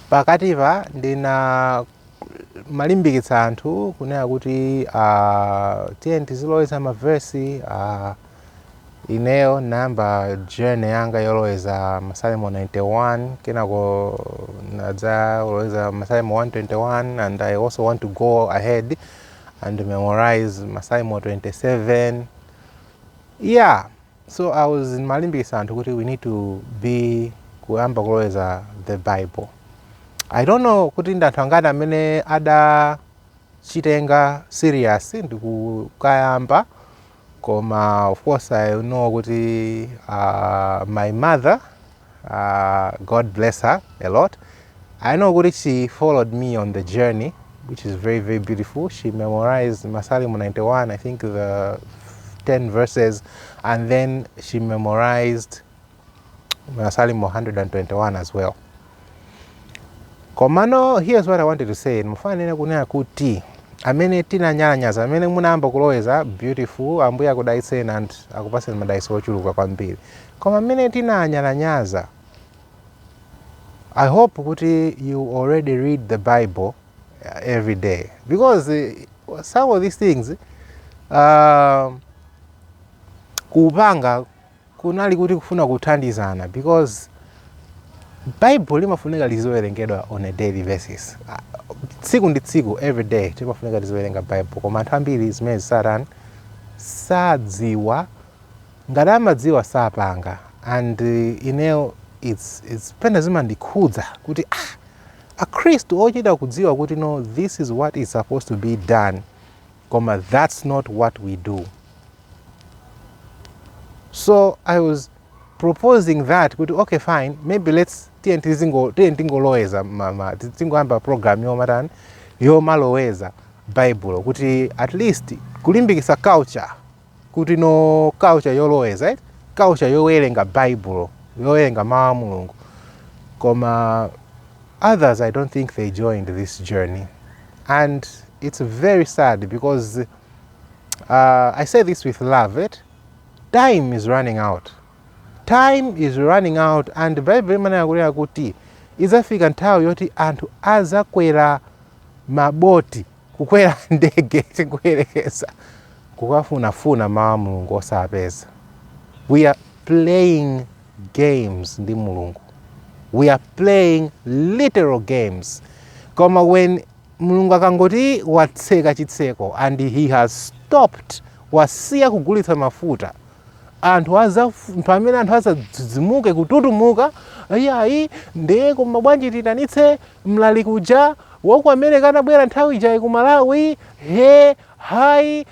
Pakatipa ndinamalimbikitsa anthu kunena kuti uh, tiyeni tiziloweza mavesi uh, ineyo ndinayamba journey yanga yoloweza masalimo 91 kenako nadzaloweza masalimo 121 and i also want to go ahead and memorize masalimo 27 yeah so i was ndimalimbikitsa anthu kuti we need to be kuyamba kuloweza the bible i don't know kuti ndi anthu angati amene adachitenga serious ndikukayamba koma of course i know kuti uh, my mother Uh, God bless her a lot. I know kuti she followed me on the journey, which is very, very beautiful. She memorized Masalimo 91, I think the 10 verses, and then she memorized Masalimo 121 as well. Komano, here's what I wanted to say. Ndimafuna kunena kuti amene tinanyalanyaza amene munayamba kuloweza beautiful ambuye akudalitseni and akupaseni madalitso ochuluka kwambiri Koma amene tinanyalanyaza I hope kuti you already read the bible every day because some of these things uh, kupanga kunali kuti kufuna kuthandizana because bible limafunika liziwerengedwa on a daily basis Ah, tsiku ndi tsiku every day timafunika tiziwerenga bible koma anthu ambiri zimenezi satani sadziwa Ngati amadziwa sapanga and ineyo it's it's pena zimandikhudza kuti ah akhristu ochita kudziwa kuti no this is what is supposed to be done koma that's not what we do so i was proposing that kuti okay fine maybe let's tiye tizingo tiye tingoloweza ma tingoyamba program yomatani yomaloweza baibulo kuti at least kulimbikisa culture kuti no culture yoloweza eh? culture yowerenga baibulo yowerenga mawu a mulungu koma others i don't think they joined this journey and it's very sad because uh, i say this with love it time is running out time is running out and bible imanena kunena kuti idzafika nthawi yoti anthu azakwera maboti kukwera ndege tikuyerekeza kukafunafuna mawu a mulungu osapeza we are playing games ndi mulungu we are playing literal games koma when mulungu akangoti watseka chitseko and he has stopped wasiya kugulitsa mafuta anthu aza pamene anthu azadzidzimuke kututumuka iyayi ndiye koma bwanji titanitse mlaliki uja waku america anabwera nthawi ijayi ku malawi he ayi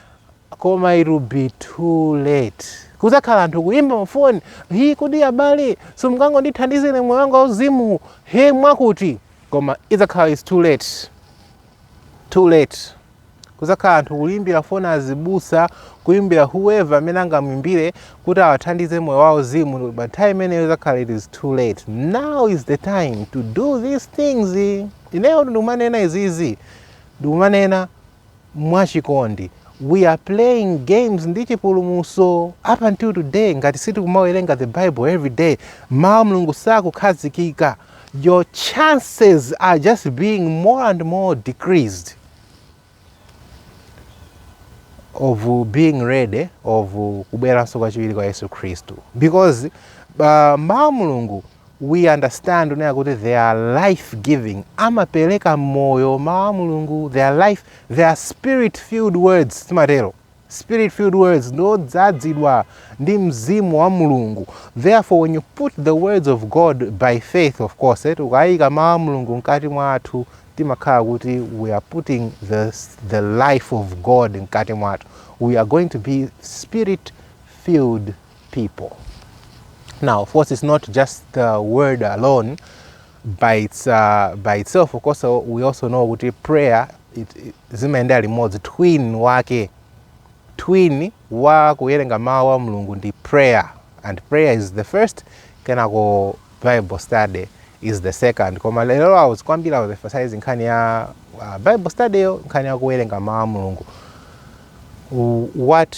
koma it will be too late kuzakhala anthu kuyimba mafoni hi kodi abale simungangondithandiza ine moyo wanga wauzimu he mwakuti koma idzakhala is too late too late Kuzakhala anthu kuimbira foni azibusa, kuimbira whoever amene angamwimbire kuti awathandize moyo wawo wauzimu pa nthawi imeneyo izakhala it is too late. Now is the time to do these things. Ineyo ndikumanena izizi ndikumanena mwachikondi. We are playing games ndi chipulumutso up until today ngati sitikumawerenga the Bible every day. Mawu a Mulungu sakukhazikika. Your chances are just being more and more decreased. of being ready of kubweranso kwachiwiri kwa yesu khristu because uh, mawu a mulungu we understand kunena kuti they are life giving amapereka moyo mawu a mulungu they are life they are spirit filled words timatero Spirit filled words ndi odzadzidwa ndi mzimu wa Mulungu. Therefore when you put the words of God by faith of course tikayika mawu a Mulungu mkati mwathu timakhala kuti we are putting the, the life of God mkati mwathu. We are going to be spirit filled people. Now of course it's not just the word alone by its uh, by itself of course uh, we also know kuti prayer zimayendera limodzi twin wake twin wa kuwerenga mawu a mulungu ndi prayer and prayer is the first kenako bible study is the second koma lero I was ndikwambiri emphasizing nkhani ya uh, bible study yo nkhani ya kuwerenga mawu a mulungu what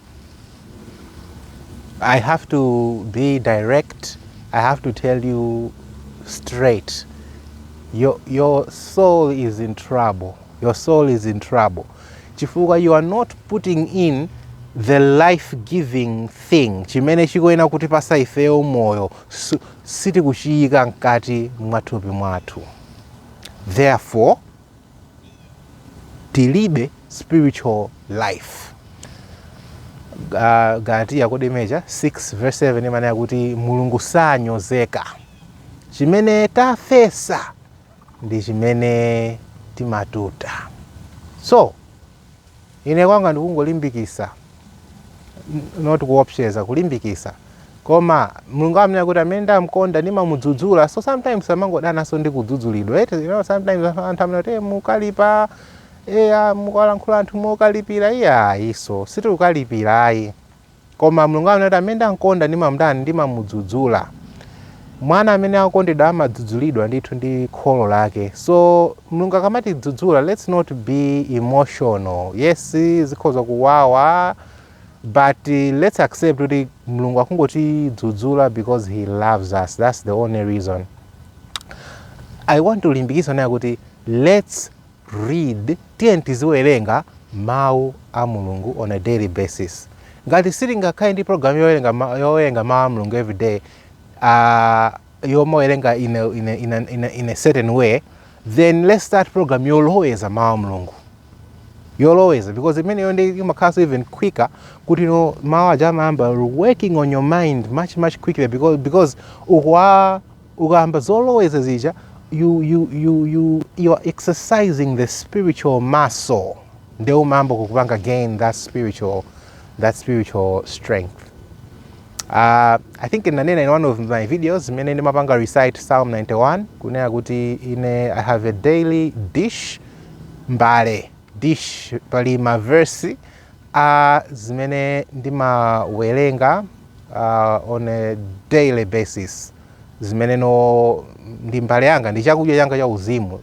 I have to be direct. I have to tell you straight. Your, your soul is in trouble. Your soul is in trouble. Chifukwa, you are not putting in the life giving thing chimene chikuyenera kutipatsa ifeyo moyo sitikuchiyika mkati mwa thupi mwathu therefore tilibe spiritual life uh, galatiya kodi mmeneja 6 verse 7 imanena kuti mulungu sanyozeka chimene tafesa ndi chimene timatuta so Ine kwanga ndikungolimbikitsa not kuopseza kulimbikitsa koma mulungu amanena kuti amene ndamkonda ndimamudzudzula so sometimes amangodananso ndi kudzudzulidwa eti you know, sometimes anthu anthu amanena kuti "Eh, mukalipa eya mukalankhula anthu mokalipira iyayi so sitikukalipira ayi Koma Mulungu amanena kuti amene ndamkonda ndimamtani, ndimamudzudzula. Mwana amene akukondedwa amadzudzulidwa ndithu ndi kholo lake. So Mulungu akamatidzudzula let's not be emotional. Yes, zikhoza kuwawa but let's accept kuti Mulungu akungotidzudzula because he loves us. That's the only reason. I want to limbikitsa naye kuti let's read, tiyeni tiziwerenga mau a Mulungu on a daily basis. Ngati sitingakhale ndi program yowerenga yowerenga mau a Mulungu every day uh, yomawerenga in a, in, a, in, a, in, a, in a certain way then let's start program yoloweza mau a Mulungu yoloweza because imeneyo nde imakhalanso even quicker kuti no mau aja amayamba working on your mind much much quicker because, because ukuwa ukayamba zoloweza zija you, you, you, you, you are exercising the spiritual muscle nde umayamba kukupanga gain that spiritual, that spiritual strength Uh, I think nanena in one of my videos mene ndimapanga recite Psalm 91 kunena kuti ine I have a daily dish mbale Dish pali ma verse a zimene ndimawelenga on a daily basis zimenezo ndi mbale yanga ndi chakudya changa cha uzimu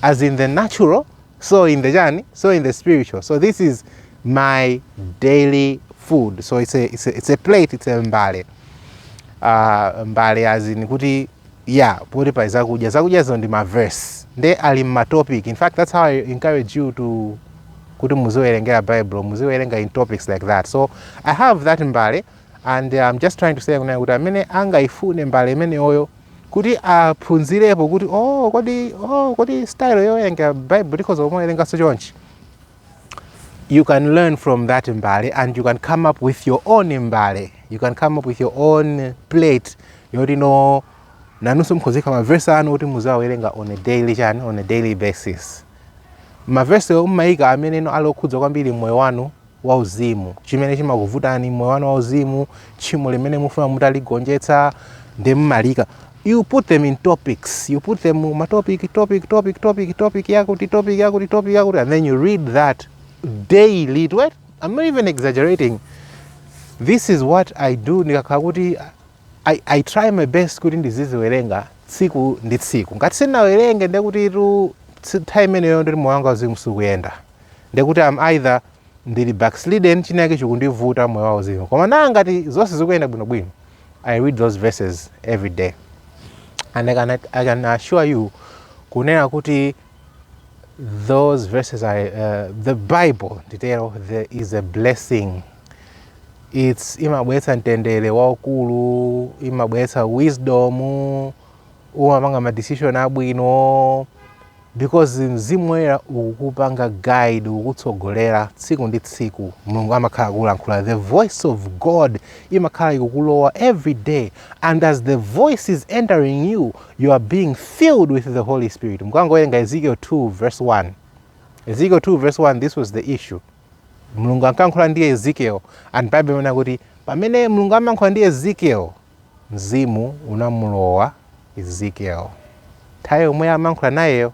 as in the natural so in the chani so in the spiritual so this is my daily food so it's a, it's a, it's a plate it's a mbale uh, mbale as in kuti yeah poti pali zakudya zakudyazo ndi ma verse nde ali m'ma topic in fact that's how i encourage you to kuti muziwerengera bible muziwerenga in topics like that so i have that mbale and i'm um, just trying to say kunayo kuti amene angayifune mbale imeneyoyo kuti aphunzirepo kuti oh kodi oh kodi style yowerenga bible tikhoza kumawerenganso chonchi you can learn from that mbale and you can come up with your own mbale you can come up with your own plate yoti no nanunso mukhoza kuika mavesi anu kuti muziwawerenga on a daily chani on a daily basis mavesi omwe mumayika amene no ali okhudza kwambiri moyo wanu wauzimu chimene chimakuvutani moyo wanu wauzimu tchimo limene mufuna mutaligonjetsa nde mumaliika you put them in topics you put them ma topic topic topic topic topic yakuti topic yakuti topic yakuti and then you read that daily right i'm not even exaggerating this is what i do ndikakhala kuti I, i try my best kuti ndiziziwerenga tsiku ndi tsiku ngati sindinawerenge ndekuti time imeneyo ndiri moyo wanga uzimu sikuyenda ndekuti am either ndili backslidden chinayake chikundivuta moyo wa uzimu koma naa ngati zonse zikuyenda bwinobwino i read those verses every day and i can, I can assure you kunena kuti those verses are the bible nditero there is a blessing its imabweretsa mtendere waukulu imabweretsa wisdom umapanga madecision abwino Because Mzimu Woyera ukupanga guide, ukutsogolera tsiku ndi tsiku. Mulungu amakhala akulankhula. The voice of God imakhala ikukulowa every day. And as the voice is entering you, you are being filled with the Holy Spirit. Mukangowerenga Ezekiel 2 verse 1. Ezekiel 2 verse 1, this was the issue. Mulungu ankalankhula ndi Ezekiel and Bible imanena kuti pamene Mulungu amalankhula ndi Ezekiel, Mzimu unamulowa Ezekiel nthawi yomwe amalankhula nayeyo.